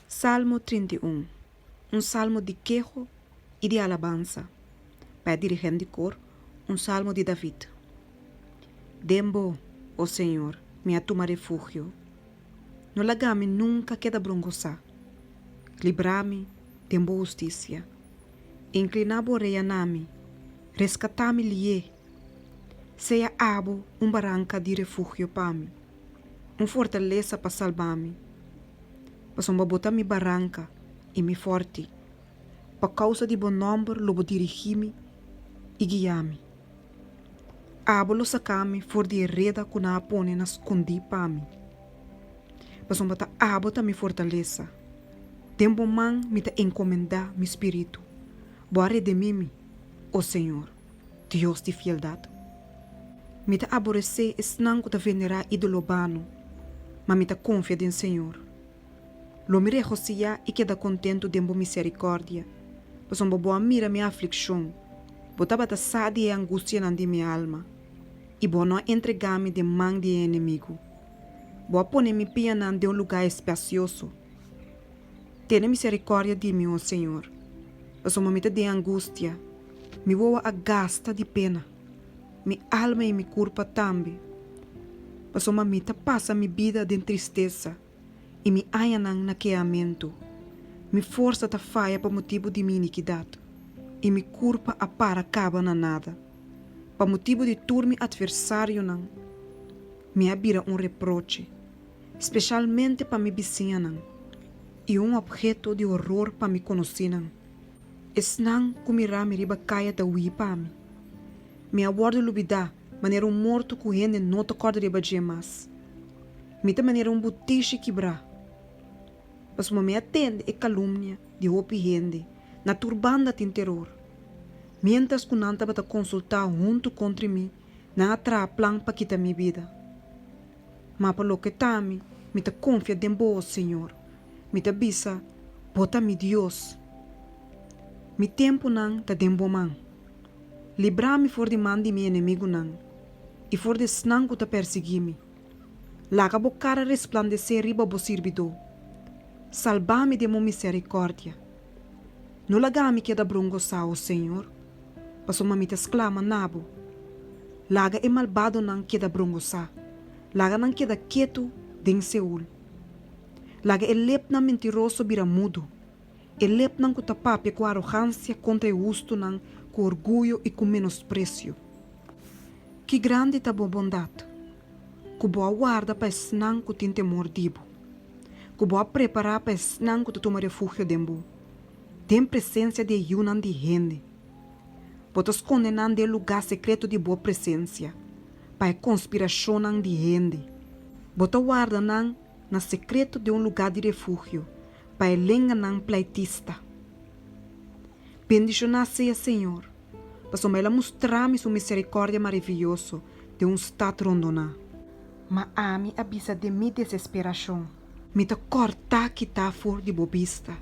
Salmo trinta i un. Un salmo di keho i di alabansa pa e dirigent di kor, un salmo di David. Den bo, o Señor, mi a tuma refugio. No laga mi nunka keda brongosá. Libra mi den bo hustisia. Inkliná bo orea na mi, reskatá mi li'é. Sea abo un baranka di refugio pa mi, un fortalesa pa salba mi, pasobra bo ta mi baranka i mi forti, pa kousa di bo nòmber lo bo dirigí mi i guia mi. Abo lo saka mi for di e reda ku nan a pone na skundí pa mi. Pasobra ta abo ta mi fortalesa, den bo man mi ta enkomendá mi spiritu, bo a redimí mi, o Señor. Dios di fieldad, mi ta aboresé esnan cu ta venerá ídolo bano, ma mi ta confia den Señor. Lo mi regociá i keda contento den bo misericordia, pasobra bo a mira mi afliccion, bo tabata sa di e angustianan di mi alma, i bo no a entregá mi den man di e enemigo. Bo a pone mi pianan den un lugá espacioso. Tene misericordia di mi, o Señor, pasobra mi ta den angustia, mi wowo a gasta di pena, mi alma i mi curpa tambe, pasobra mi ta pasa mi bida den tristesa, i mi añanan na keamentu. Mi forsa ta faya pa motibu di mi iniquidad, i mi curpa a para caba na nada. Pa motibu di tur mi adversarionan mi a bira un reproche, Speshalmente pa mi bisiñanan, i un opheto di horor pa mi konosinan. Esnan ku mira mi riba kaya ta hui pa mi. Mi a wòrdu lubidá manera un morto ku hende no ta kòrda riba dje mas. Mi ta manera un butishi kibrá. Pasobra mi a tende e kalumnia di hopi hende na tur banda tin teror. Miéntras ku nan tabata konsultá huntu kontri mi, nan a traha plan pa kita mi bida. Ma pa loke ta mi, mi ta konfia den Bo, Señor. Mi ta bisa, Bo ta mi Dios. Mi tempunan ta den Bo man. Libra mi for di man di mi enemigunan, i for di esnan ku ta pèrsiguí mi. Laga Bo kara resplandesé riba Bo sirbidó. Salbá mi den Bo miserikòrdia. No laga mi keda brongo sa, O Señor, pasobra mi ta sklama na bo. Laga e malbadonan keda brongo sa, laga nan keda ketu den Seul. Laga e lepnan mentiroso bira mudu, e lepnan ku ta papia ku arogansia kontra e hustunan ku orguyo i ku menospresio. Ki grandi ta bo bondat, ku bo a warda pa esnan ku tin temor di bo! ku bo a prepará pa esnan ku ta tuma refugio den bo, den presensia di e yunan di hende. Bo ta skonde nan den e lugá sekreto di bo presensia, pa e konspirashonnan di hende. Bo ta warda nan na sekreto den un lugá di refugio pa e lenganan plaitista. Bendishoná sea, Señor! Pasobra el a mustrami su misericordia marivioso den un stad rondoná. Ma ami a bisa den mi desesperacion. Mi ta cortá kitá for di bo bista.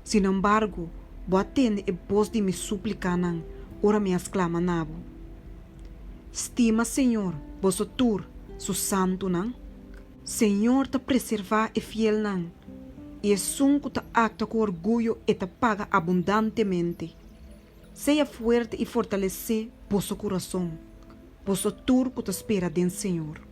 Sinembargo, bo a tende e bos di mi suplicanan ora mi a sclama na bo. Stima Señor, boso tur, su santunan. Señor ta preservá e fielnan, i esun cu ta actua cu orguyo e ta paga abundantemente. Sea fuerte y fortalece boso curason, boso tur cu ta spera den Señor.